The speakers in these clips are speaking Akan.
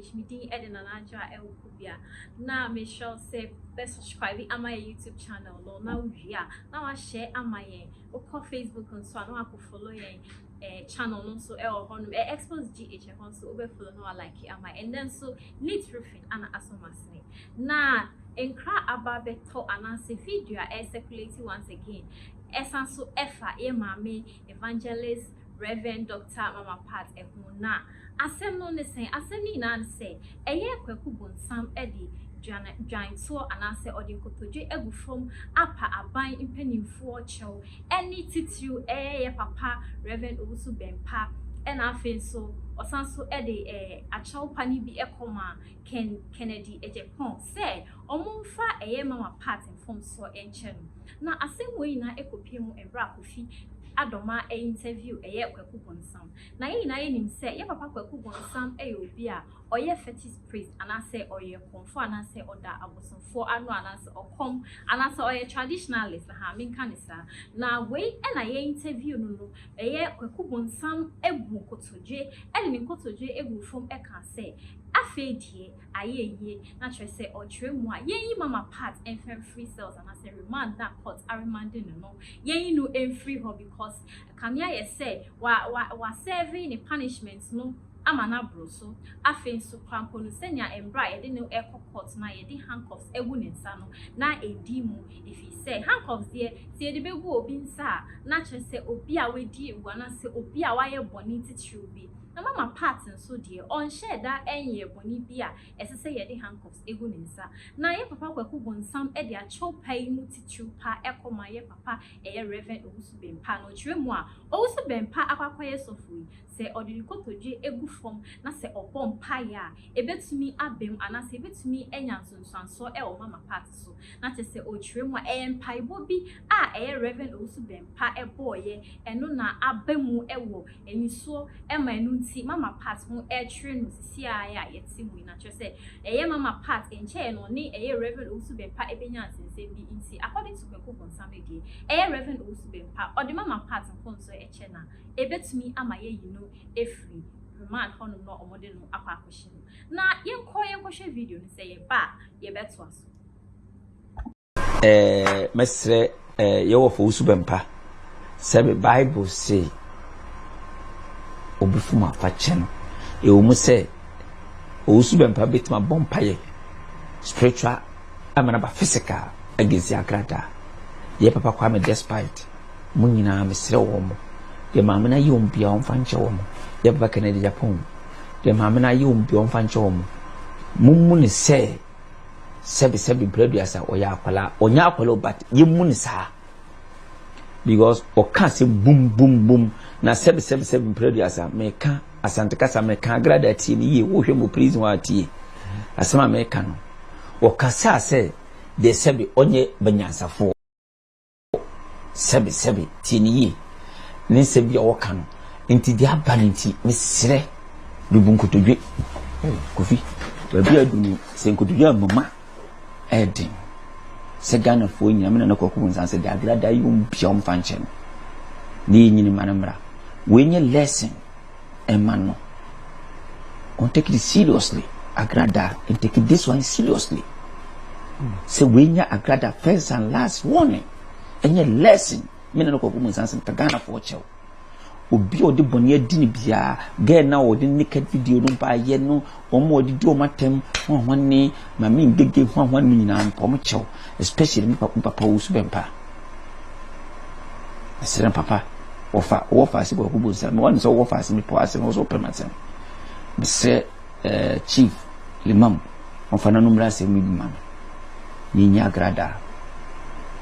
H. Me din ɛde Nana Adwoa ɛwɔ Kubia. Na mehyɛ wo sɛ bɛ subscribe ama yɛ YouTube channel no na wowie a na wahyɛ ama yɛn. Wokɔ Facebook nso a na wakɔ follow yɛn eh, channel no nso ɛwɔ hɔ nom. Eh, Expose GH ɛhɔ nso wobɛ follow na wa like ama. Ɛnɛ nso ne tiri fi ana asɔm asene na nkra aba bɛtɔ anaasɛ video a ɛyɛ circulate once again ɛsan so ɛfa yɛ maame evangelist Rev Doctor Mama Pat ɛho na asɛm no ne sɛn asɛm no nyinaa ne sɛ ɛyɛ kwaku bonsam de dwan dwan toɔ anaasɛ ɔde nkotodwe agu fam apa aban mpaninfoɔ kyɛw Ɛne titiriw ɛɛ yɛ papa Rev. Owusu Bempah ɛna afei nso ɔsan nso de ɛɛ akyɛw pa no bi ɛkɔ maa Ken Kennedy Agyapong sɛ ɔmo nfa ɛɛ Mama Pat mfomsoɔ ɛnkyɛ no. Na asɛm wei nyinaa ɛkɔpue mu ɛberɛ a Kofi Adomaa ɛɛ interview ɛɛ Kwaku Bonsam. Na yɛn nyinaa yɛnim sɛ yɛ papa Kwaku Bonsam ɛyɛ obi a ɔyɛ fetish priest anaasɛ ɔyɛ kɔmfoɔ anaasɛ ɔda abosomfoɔ ano anaasɛ ɔkɔm anaasɛ ɔyɛ traditionalist ahaa menka no saa na wei na yɛ interview no no bɛyɛ Kwaku Bonsam abu nkotodwe de ne nkotodwe agu fam ka sɛ afei deɛ ayɛ ayie na kyerɛ sɛ ɔkyerɛ mu a yɛnyi Mama Pat mfa mfiri cells anaasɛ remand no a court aremande no no yɛnyi no mfiri hɔ because ɛkame ayɛ sɛ wa wa wasɛve ne punishment no ama no aboro so. Afei nso, kora mpo no, sɛnea mmerɛ a yɛde no rekɔ kɔɔt no a yɛde handcuffs agu ne nsa no, na ɛdi mu. Ɛfiri sɛ, handcuffs deɛ, sɛ yɛde bɛgu obi nsa a, na kyerɛ sɛ obi a wadi awu anaasɛ obi a wayɛ bɔne titiriw bi. Na Mama Pat nso deɛ, ɔnhyɛɛ da nyɛɛ bɔne bi a ɛsɛ sɛ yɛde handcuffs gu ne nsa. Na yɛn papa Kwaku Bonsam de akyɛw pa yi mu titiriw pa kɔma yɛn papa ɛyɛ Rev. Owusu Bempah. Na ɔkyerɛ mu a, Owusu Bempah akɔ akɔyɛ sɔfo yi, Sɛ ɔde ne kotodwe gu fam na sɛ ɔbɔ mpae a, ebetumi abam anaasɛ ebetumi anya nsunsuansoɔ wɔ Mama Pat so. Na kyerɛ sɛ ɔrekyerɛ mu a, ɛyɛ mpaebɔ bi a ɛyɛ Rev. Owusu-Bempah bɔeɛ, ɛno na aba mu wɔ anisoɔ ma ɛno nti Mama Pat ho rekyere no sisi ara a yɛte mu yi. Na kyerɛ sɛ ɛyɛ Mama Pat nkyɛeɛ no ɔne ɛyɛ Rev. Owusu-Bempah bɛnya nsɛnsɛm bi nti, according to Kwaku Bonsam deɛ, ɛyɛ Rev. Owusu-Bempah ɔde Mama Pat nkɔnsɔn kyɛ no a, ebetumi ama yɛayi no afiri remand hɔnom na wɔde no akɔ akɔhyɛ mu. Na yɛnkɔ yɛnkɔhwɛ video no, sɛ yɛba a, yɛbɛtoa so. Eh, mɛsrɛ eh, yɛwɔ fo wosu bɛmpa sɛ me bible se obi fom afakyɛ no ɛwɔ mu sɛ ɔwosu bɛmpa bɛtumi abɔ mpayɛ spiritual amana ba physical agensi akrataa yɛ papa kwa me despite Mo nyinaa mesrɛ wo wɔn. Deɛ Maame no ayɛ wɔn biara wɔmfa nkyɛ wɔn. Deɛ Papa Kennedy Agyapong. Deɛ Maame no ayɛ wɔn biara wɔmfa nkyɛ wɔn. Mommu no sɛ sɛbi sɛbi mprɛduasa ɔyɛ akwadaa ɔnyɛ akwadaa o but yɛmmu no saa because ɔka asɛm bum bum bum na sɛbi sɛbi sɛbi mprɛduasa meka asante kasa meka agrada atie no yie wohwɛ mu prison a atie asɛm a meka no ɔka saa sɛ deɛ sɛbi ɔnyɛ banyansafoɔ Oh, sɛbe, sɛbe, tie no yie, ne nsɛm bi a wɔka no. Nti deɛ aba no nti, mesrɛ, bebu nkotodwe. Oh, Kofi, baabi a adu no, sɛ nkotodwe a mama ɛyɛ den. Sɛ Ghanafoɔ nyina, me nana kwaku nsan sɛ daagrada yi wɔn bia wɔn fa nkyɛ no. Ne yɛ nyini ma no mmra. Wei nyɛ lesson. ɛma no. Ɔn take this seriously Agrada and take this one seriously sɛ wei nyɛ Agrada first and last warning ɛnyɛ lesson me ne no kɔkɔ mu nsansen ka Ghana foɔ kyɛw obi a ɔde bɔne adi no biara gɛɛ na ɔde naked video no baayɛ no wɔn a wɔde di wɔn atɛm ho a wɔn ne maame ngege ho a wɔn ne nyinaa mpa wɔn kyɛw especially me papa me papa wo so bɛ mpa ɛsrɛ papa wɔfa wɔwɔ faase bɔ ɛkɔbɔ nsa mewɔ ne sɛ wɔwɔ faase mepɔ ase na wɔsɛ wɔpɛ masɛm mesrɛ eh, chief limam wɔfa no nommerɛ asɛm no bi ma me yɛnya agradaa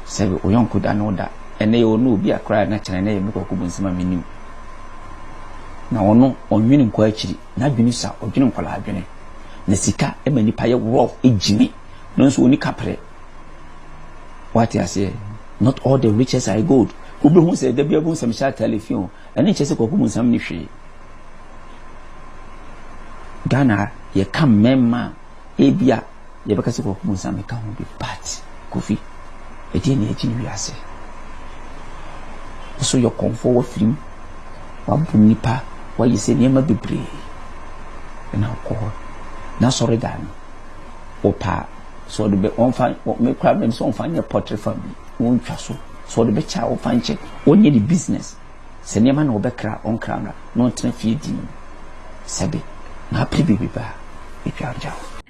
sɛ ɔyɔnko da ne wo da ɛnɛ yɛ ɔno obi akora na kyerɛ na yɛ mekɔ kɔbɔ nsɛm a menim na ɔno ɔnwene nkɔ akyiri N'adwene sua, ɔdwene nkwadaa adwene. Na sika ma nipa yɛ rough, gyimi, nanso ɔnni kaprɛ. Woate aseɛ? Not all the riches are gold. Wobɛhu sɛ da biara wobɛhu sɛ mehyɛ ataale fi o, ɛno nkyɛ sɛ Kwaku Bonsam nni hwee. Ghana ha, yɛka mmarima a ebia Yɛbɛka sɛ Kwaku Mensah meka ho bi but Kofi ɛdeɛ na agyin wiase. Woso yɛ ɔkɔmfoɔ wafirim wabom nipa wayɛ sɛ nneɛma bebree ɛna wokɔ hɔ na sɔre dan no wɔpa sɛ ɔde bɛ wɔmfa mekora mɛm sɛ wɔmfa nyɛ pɔtre fa bi wɔntwa so sɛ ɔde bɛkyɛ a wɔmfa nkyɛ wɔnyɛ ne business Sɛ nneɛma na wɔbɛkra wɔn kra no a, na wɔntena fie din mu. Sɛbe, na apere biribi ba a, yɛtwantwa wo.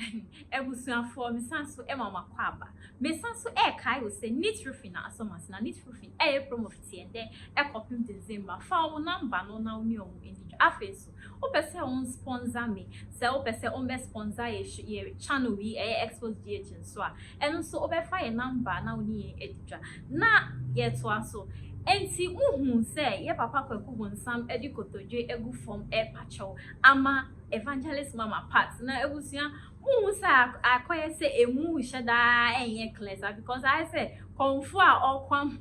Abusuafoɔ, mesan so ma mo akwaaba. Mesan so rekae wo sɛ Nit Roofing na asɔ mo ase, na Nit Roofing reyɛ promo fiti ɛndɛ kɔpem December. Fa wɔn namba no na wo ne wɔn nnidi dwa. Afei nso. Wopɛ sɛ wo nspɔnsa me sɛ wopɛ sɛ wo mbɛ spɔnsa yɛ channel yi ɛyɛ expos GH nso a ɛno nso wo bɛ fa yɛ number na wo ne yɛn adi dwa na yɛ toa so ɛnti mo huu sɛ yɛ papa Kwaku Bonsam ɛde kotodwe agu fɔm ɛɛpa kyɛw ama Evangelist Mama Pat na abusua Wonhu sɛ akɔyɛ sɛ emu rehyɛ daa ɛnyɛ clear saa because ayɛ sɛ kɔmfo a ɔkɔ ama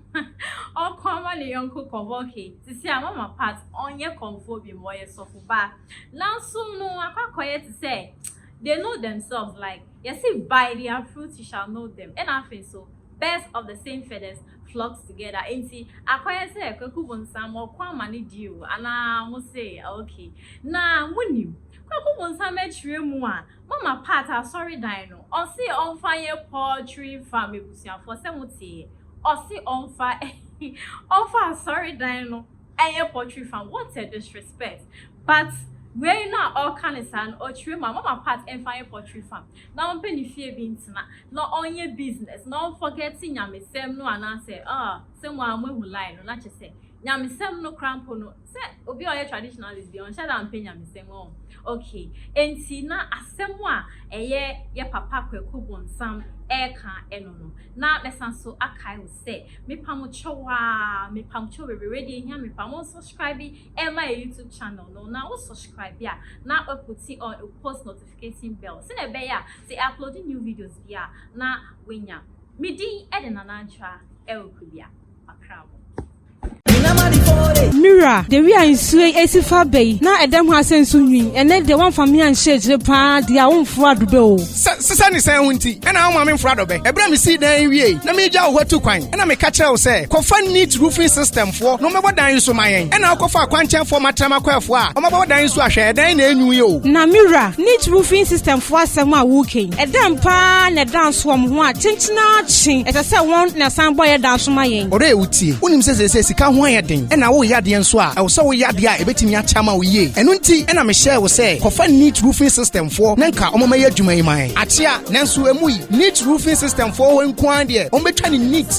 ɔkɔ ama ne yɔnko kɔbɔ okay te sɛ a mama part ɔnyɛ kɔmfoɔ bi mu ɔyɛ sɔfo ba nanso no akɔ akɔyɛ te sɛ they know themselves like yɛse by their fruit you shall know them ɛna afei nso Birds of the same feathers flock together enti akɔyɛ sɛ Kwaku Bonsam ɔko ama ne di o anaa mo se ok na mo nim Kwaku Bonsam akyire mu a mama part asɔredan no ɔse ɔnfa nyɛ poultry farm abusuafoɔ sɛ mo teɛ ɔse ɔnfa ɔnfa asɔredan no nyɛ poultry farm what a disrespect but wei no a ɔka no saa no ɔkyire mu a mama part nfa nyɛ poultry farm na ɔmpɛ ne fie bi ntena na ɔnyɛ business na ɔnfɔgɛte nyamesɛm no anaasɛ ah sɛ mo ara mo ahu line no na kyɛ sɛ nyamesɛm no koraa mpo no sɛ obi a ɔyɛ traditionalist deɛ ɔnhyɛ da mpɛ nyamesɛm ɔho okay ɛnti na asɛm a ɛyɛ yɛ papa Kwaku Bonsam ɛreka ɛno no na mɛsan so akae wo sɛ mepamkyɛw aa mepamkyɛw bebrebe deɛ ɛhia me paa mo nsɔscribe ɛma yɛ YouTube channel no na wo sɔscribe a na waputi on wo post notification. notification bell sɛnea ɛbɛyɛ a sɛ yɛ upload new videos bi a na wanya me din de nana antra ɛwɔ kurubia akra mu. Mira, de wi a nsuo yi esi fa bɛ yi, na ɛdɛm ho asɛ nso nwi, ɛnɛ deɛ wɔmfa me anhyɛ akyire paa deɛ a womforo adobɛ o. Sɛ sisɛ ne sɛn ho nti, ɛna woma me mforo adobɛ. Ɛberɛ a mesii dan yi wiei na meregya wo hɔ atu kwan, ɛna meka kyerɛ wo sɛ, kɔfa neat roofing system Foɔ no ɔmɛbɔ dan nso ma yɛn ɛna ɔkɔ faa kwankyɛn foɔ ma trama kɔɛ foɔ a ɔmɔ bɔbɔ dan nso ahwɛ ɛdɛn na ɛnwu yi o. Na me wura, neat roofing system foɔ asɛm a wo kɛn, ɛdɛn paa na ɛda nso wɔn ho a kyenkyen ara kye ɛsɛ sɛ wɔn na ɛsan bɔ yɛ dan nso ma yɛn? Ɔrɛ wo tie, wo nim sɛ seesei sika ho ayɛ den ɛna wo reyɛ adeɛ nso a ɛwɔ sɛ wo yɛ adeɛ a ɛbɛtumi akyɛ ama wo yie ɛno nti ɛna me hyɛɛ wo sɛ kɔfa neat roofing system foɔ na nka ɔmɔ mɛyɛ adwuma yi ma yɛn akyea nanso ɛmu yi neat roofing system foɔ hɔ nko ara deɛ ɔmɔ bɛtwa ne neat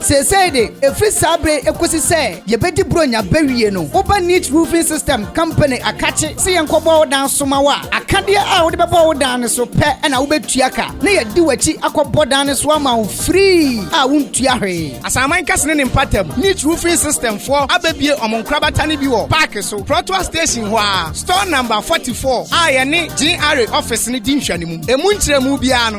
Seesei de, ɛfiri saa berɛ yi kɔsi sɛ yɛbɛdi Buronya bɛwie no, woba Neat Roofing System Company akakye sɛ yɛnkɔbɔ wo dan so ma wo a, akadeɛ a wode bɛbɔ wo dan no so pɛ na wobɛtua ka, na yɛadi w'akyi akɔbɔ dan no so ama wo free a wontua hwee. Asaman Kɛse ne ne mpatamu, Neat Roofing System foɔ abɛbue wɔn nkorabata no bi wɔ Park so, Protoa Station hɔ ara, Store Number 44 a yɛne GRA Office no di nhwɛanimu. Ɛmu nkyerɛmu biara no,